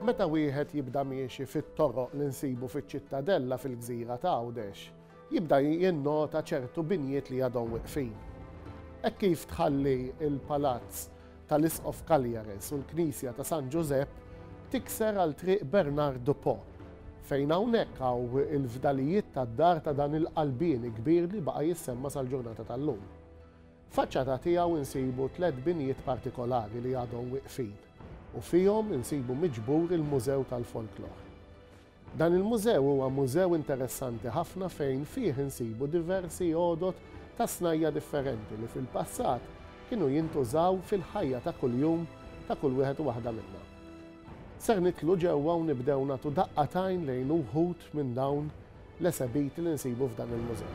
Meta wieħed jibda miexi fit-toroq li nsibu fiċ-Ċittadella fil-gżira ta' Għawdex, Jibda jinnota ċertu binjiet li għadhom weqfin. Hekk kif tħalli l-palazz tal-Isqof Cagliares u l-knisja ta' San Ġużepp, tikser għal Triq Bernard Dupò, fejn hawnhekk hawn il-fdalijiet tad-dar ta' dan il-qalbieni kbir li baqa' jissemma sal-ġurnata tal-lum. F'faċċata tiegħu insibu tliet binjiet partikolari li għadhom weqfin u fihom insibu miġbur il-Mużew tal-Folklor. Dan il-mużew huwa mużew interessanti ħafna fejn fih insibu diversi għodod ta' snajja' differenti li fil-passat kienu jintużaw fil-ħajja ta' kuljum ta' kull wieħed u waħda minna. Ser nidħlu ġewwa u nibdew nagħtu daqqa t'għajn lejn uħud minn dawn l-esebiti li nsibu f'dan il-mużew.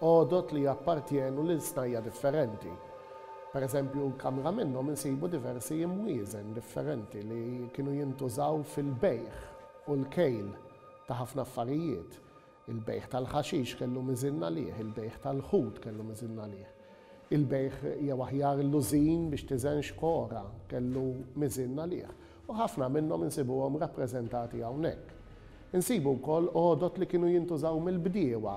għodod li jappartjenu lil snajja' differenti. Per eżempju, kamra minnhom insibu diversi imwieżen differenti li kienu jintużaw fil-bejgħ u l-kejl ta' ħafna affarijiet. Il-bejgħ tal-ħaxix kellu miżin għalih, il-bejgħ tal-ħut kellu miżin għalih. Il-bejgħ jew aħjar l-użin biex tiżen xkora kellu miżin għalih, u ħafna minnhom insibuhom rappreżentati hawnhekk. Insibu wkoll għodod li kienu jintużaw mill-bdiewa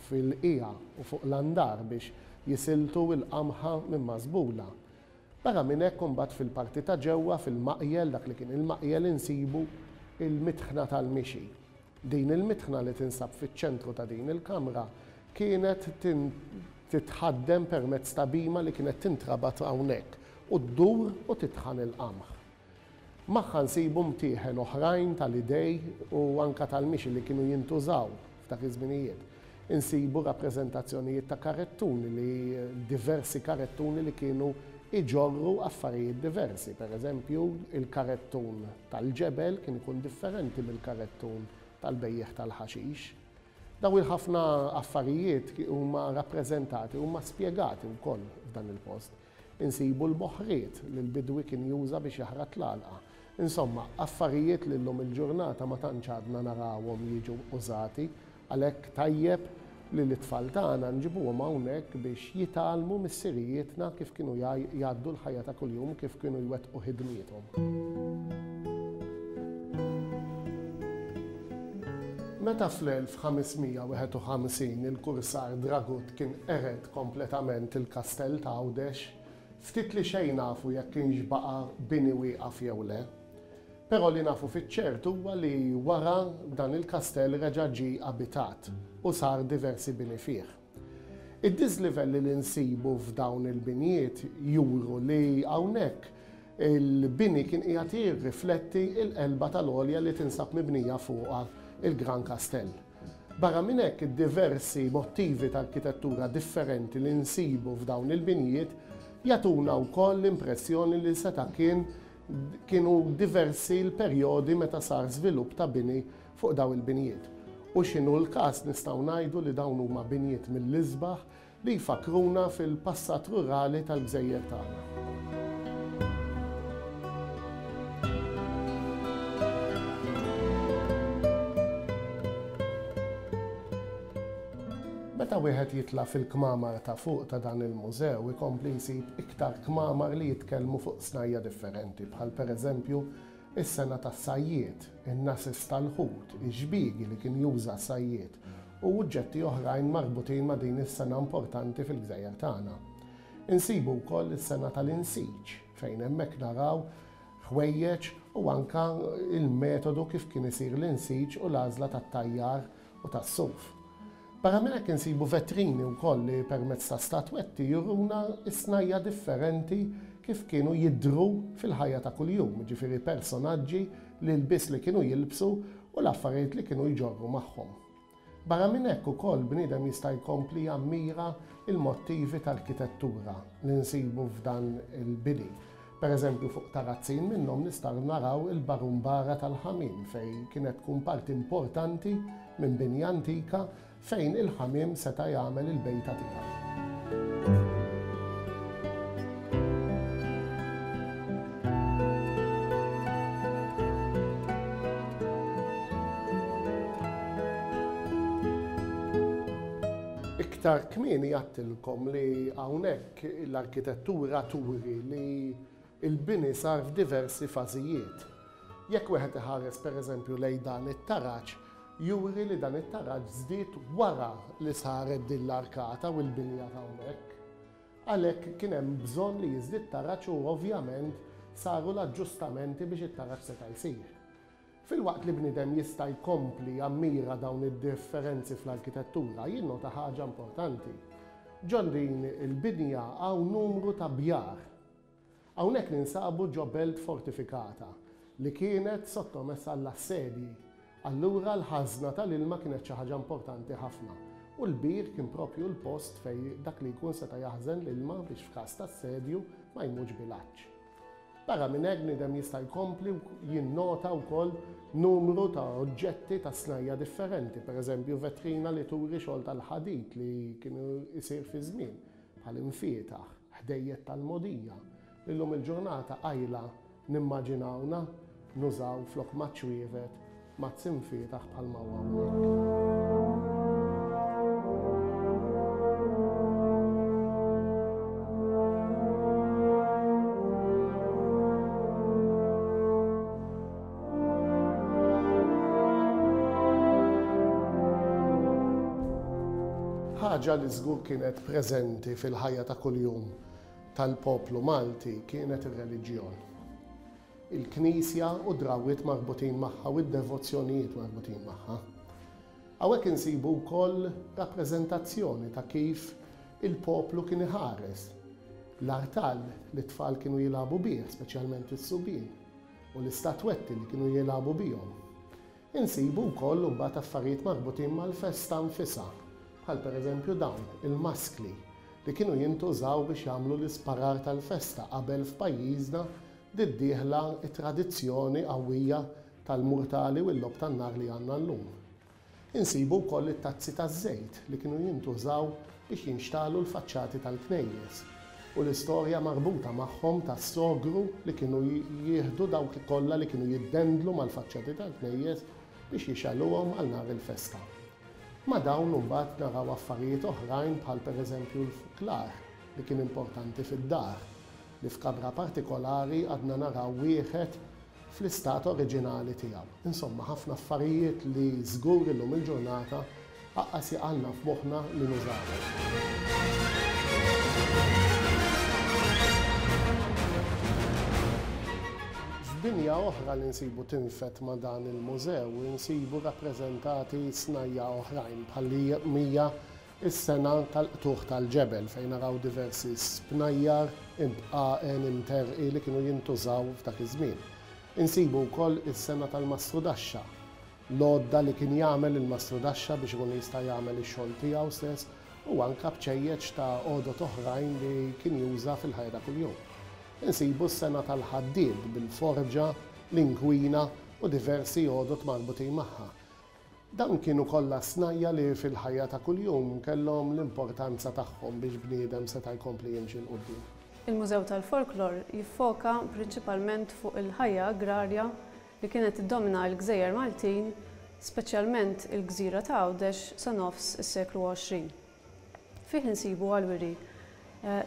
fil-qiegħa u fuq l-andar biex jisiltu l-qamħa minn mażbula. Barra minn hekk imbagħad fil-parti ta' ġewwa fil-maqjel, dak li kien il-maqjel, insibu l-mitħna tal-mixi. Din il-mitħna li tinsab fiċ-ċentru ta' din il-kamra kienet titħaddem permezz ta' bhima li kienet tintrabat hawnhekk u ddur u titħan il-qamħ. Magħha nsibu mtieħen oħrajn tal-idej u anke tal-mixi li kienu jintużaw f'dak iż-żminijiet. Insibu rappreżentazzjonijiet ta' karettuni li diversi karettuni li kienu jġorru affarijiet diversi. Per eżempju, il-karettun tal-ġebel kien ikun differenti mill-karettun tal-bejjiegħ tal-ħaxix. Dawn il-ħafna affarijiet huma rappreżentati, huma spjegati wkoll f'dan il-post. Insibu l-boħħriet li l-bidwi kien juża biex jaħrat l-għalqa. Insomma, affarijiet li llum il-ġurnata ma tantx għadna narawhom jiġu użati. Għalhekk tajjeb li lit-tfal tagħna nġibuhom hawnhekk biex jitgħallmu missirijietna kif kienu jgħaddu l-ħajja ta' kuljum u kif kienu jwettqu ħidmiethom. Meta fl-1551 il-kursar Dragut kien qered kompletament il-Kastell ta' Għawdex, ftit li xejn nafu jekk kienx baqa' bini wieqaf jew le. Però li nafu fiċ-ċert huwa li wara dan il-kastell reġa' ġie abitat u sar diversi bini fih. Id-diżlivelli li nsibu f'dawn il-binjiet juru li hawnhekk il-bini kien qiegħed jirrifletti l-qelba tal-għolja li tinsab mibnija fuqha l-Gran Kastell. Barra minn hekk, id-diversi mottivi ta' arkitettura differenti li nsibu f'dawn il-binjiet jagħtuna wkoll l-impressjoni li seta' kien kienu diversi l-perjodi meta sar żvilupp ta' bini fuq dawn il-binjiet. U x'inhu l-każ nistgħu ngħidu li dawn huma binjiet mill-isbaħ li jfakkruna fil-passat rurali tal-gżejjer tagħna. Meta wieħed jitla' fil-kmamar ta' fuq ta' dan il-mużew ikompli jsib iktar kmamar li jitkellmu fuq snajja' differenti bħal pereżempju is-sengħa tas-sajjied, in-nases tal-ħut, ix-xbiegi li kien juża s-sajjied u uġġetti oħrajn marbutin ma' din is-sena importanti fil-gżejjer tagħna. Insibu wkoll is-sena tal-insiġ fejn hemmhekk naraw ħwejjeġ u anke l-metodu kif kien isir l-insiġ u l-għażla tat-tajjar u tas-suf. Barra minn hekk insibu vetrini wkoll li permezz ta' statwetti juruna s-snajja' differenti kif kienu jidhru fil-ħajja ta' kuljum, jiġifieri personaġġi l-ilbies li kienu jilbsu u l-affarijiet li kienu jġorru magħhom. Barra minn hekk ukoll bniedem jista' jkompli jammira l-mottivi tal-kitettura li nsibu f'dan il-bini. Per eżempju fuq tarazzin minnhom nistaru naraw il-barumbara tal-ħamiem fejn kienet tkun parti importanti minn binja antika Fejn il-ħamiem seta' jagħmel il-bejta tiegħu. Iktar kmieni għedtilkom li hawnhekk l-arkitettura turi li Il-bini sar f'diversi fażijiet. Jekk wieħed iħares pereżempju lejn dan it-taraġ, juri li dan it-taraġ żdied wara li saret din l-arkata u l-binja t'hawnhekk. Għalhekk kien hemm bżonn li jiżdied taraġ u ovvjament saru l-aġġustamenti biex it-taraġ seta' jsir. Filwaqt li bniedem jista' jkompli jammira dawn id-differenzi fl-arkitettura, jinnota ħaġa importanti. Ġon din il-binja hawn numru ta' bjar. Hawnhekk ninsabu ġo belt fortifikata li kienet sottomessa għall-assedji. Allura l-ħażna tal-ilma kienet xi ħaġa importanti ħafna u l-bir kien proprju l-post fejn dak li jkun seta' jaħżen l-ilma biex f'każ ta' assedju ma jmutx bil-għatx. Barra minn hekk bniedem jista' jkompli jinnota wkoll numru ta' oġġetti ta' snajja' differenti, pereżempju vetrina li turi xogħol tal-ħadid li kien isir fiż-żmien, bħal imfietaħ. ħdejjed tal-mogħdija, li llum il-ġurnata qajla nimmaġinawna nużaw flok maċ-ċwievet, mazz imfietaħ bħalma hu hawnhekk. Ħaġa li żgur kienet preżenti fil-ħajja ta' kuljum tal-poplu Malti kienet ir-reliġjon. Il-knisja u drawwiet marbutin magħha u d-devozzjonijiet marbutin magħha. Hawnhekk insibu wkoll rappreżentazzjoni ta' kif il-poplu kien iħares l-artal li t-tfal kienu jilagħbu bih, speċjalment is-subien. u l-istatwetti li kienu jilagħbu bihom. Insibu wkoll imbagħad affarijiet marbutin mal-festa nfisha, bħal pereżempju dawn, il-maskli li kienu jintużaw biex jagħmlu l-isparar tal-festa qabel f'pajjiżna bdiet dieħla t-tradizzjoni qawwija tal-murtali u l-logħob tan-nar li għandna llum. Insibu wkoll it-tazzi taż-żejt li kienu jintużaw biex jinxtagħlu l-faċċati tal-knejjes u l-istorja marbuta magħhom tas-sogru li kienu jieħdu dawk kollha li kienu jiddendlu mal-faċċati tal-knejjes biex jixgħeluhom għal nhar il-festa. Ma' dawn imbagħad naraw affarijiet oħrajn bħal pereżempju l-fuklar li kien importanti fid-dar, li f'kamra partikolari għadna naraw wieħed fl-istat oriġinali tiegħu. Insomma, ħafna affarijiet li żgur illum il-ġurnata aqqas jaqgħalna f'moħħna li nużawhom. F'dinja oħra li nsibu tinfed ma' dan il-mużew, insibu rappreżentati snajja' oħrajn bħal-li hija Is-sena tal-qtugħ tal-ġebel fejn naraw diversi spnajjar, ibqgħen, imterqi li kienu jintużaw f'dak iż-żmien. Insibu wkoll is-sena tal-mastrudaxxa, l-għodda li kien jagħmel il-mastrudaxxa biex ikun jista' jagħmel ix-xogħol tiegħu stess u anke bċejjeċ ta' għodod oħrajn li kien juża fil-ħajja ta' kuljum. Insibu s-sena tal-ħaddied bil-forġa, l-inkwina u diversi għodod marbutin magħha. Dawn kienu kollha snajja' li fil-ħajja ta' kuljum kellhom l-importanza tagħhom biex bniedem seta' jkompli jimxi 'l quddiem. Il-Mużew tal-Folklor jiffoka prinċipalment fuq il-ħajja agrarja li kienet tiddomina l-gżejjer Maltin, speċjalment il-gżira ta' Għawdex sa nofs is-seklu 20. Fih insibu għall-wiri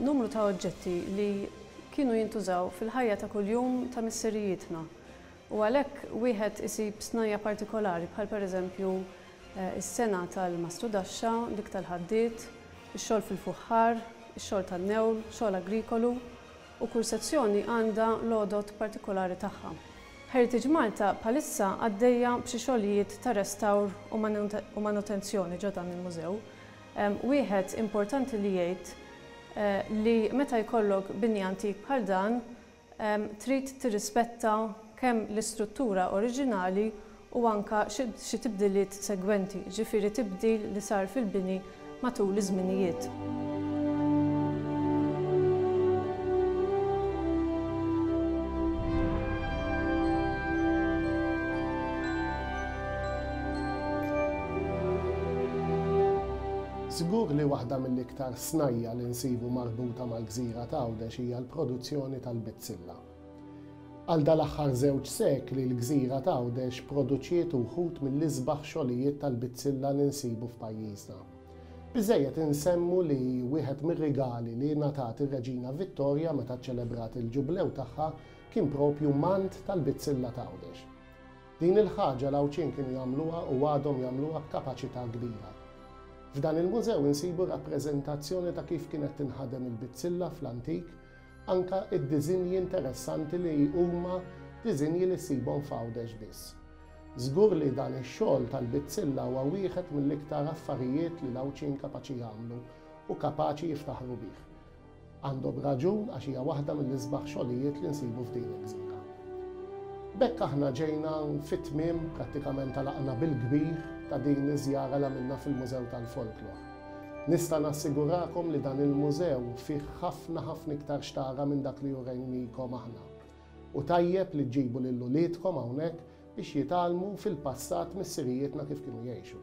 numru ta' oġġetti li kienu jintużaw fil-ħajja ta' kuljum ta' missirijietna u għalhekk wieħed isib snajja' partikolari bħal pereżempju s-sengħa tal-mastudaxxa, dik tal-ħaddied, ix-xogħol fil-fuħħar, ix-xogħol tan-newl, xogħol agrikolu. u kull sezzjoni għandha l-għodod partikolari tagħha. Heritage Malta bħalissa għaddejja b'xi xogħlijiet ta' restawr u manutenzjoni ġo dan il-mużew. Wieħed importanti li jgħid li meta jkollok bini antik bħal dan trid tirrispetta kemm l-istruttura oriġinali u anke xi tibdiliet segwenti, jiġifieri tibdil li sar fil-bini matul iż-żminijiet. Żgur li waħda mill-iktar snajja' li nsibu marbuta mal-gżira t'Għawdex hija l-produzzjoni tal-bizzilla. Għal dal-aħħar żewġ sekli l-gżira t'Għawdex produċiet uħud mill-isbaħ xogħlijiet tal-bizzilla li nsibu f'pajjiżna. Biżżejjed insemmu li wieħed mir-rigali li ngħatat ir-Reġina Vittorja meta ċċelebrat il-Ġublew tagħha kien proprju mant tal-bizzilla t'Għawdex. Din il-ħaġa l-Għawdxin kienu jagħmluha u għadhom jagħmluha b'kapaċità kbira. F'dan il-mużew insibu rappreżentazzjoni ta' kif kienet tinħadem il-bizzilla fl-antik Anke d-diżinji interessanti li huma diżinji li ssibhom f'Għawdex biss. Żgur li dan ix-xogħol tal-bizzilla huwa wieħed mill-iktar affarijiet li l-Għawdxin kapaċi jagħmlu u kapaċi jiftaħru bih. Għandhom raġun għax hija waħda mill-isbaħ xogħlijiet li nsibu f'din il-gżira. B'hekk aħna ġejna fit-tmiem, prattikament għalaqna bil-kbir, ta' din iż-żjara li għamilna fil-Mużew tal-Folklor. Nista' nassigurakom li dan il-mużew fih ħafna ħafna iktar x'tara minn dak li urejnikom aħna. U tajjeb li ġġibu lil uliedkom hawnhekk biex jitgħallmu fil-passat missirijietna kif kienu jgħixu.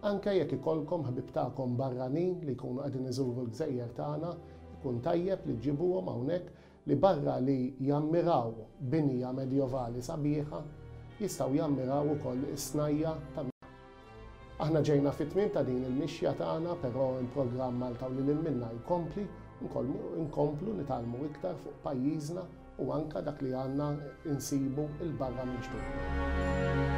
Anke jekk ikollkom ħbieb tagħkom barranin li jkunu qegħdin iżuru l-gżejjer tagħna, ikun tajjeb li ġġibuhom hawnhekk li barra li jammiraw binja Medjevali sabiħa, jistgħu jammiraw ukoll is-snajja' ta' Aħna ġejna fit-tmiem ta' din il-mixja tagħna, però hemm programm Malta u lil hinn minnha jkompli, nkomplu nitgħallmu iktar fuq pajjiżna u anke dak li għandna nsibu 'l barra minn xtutna.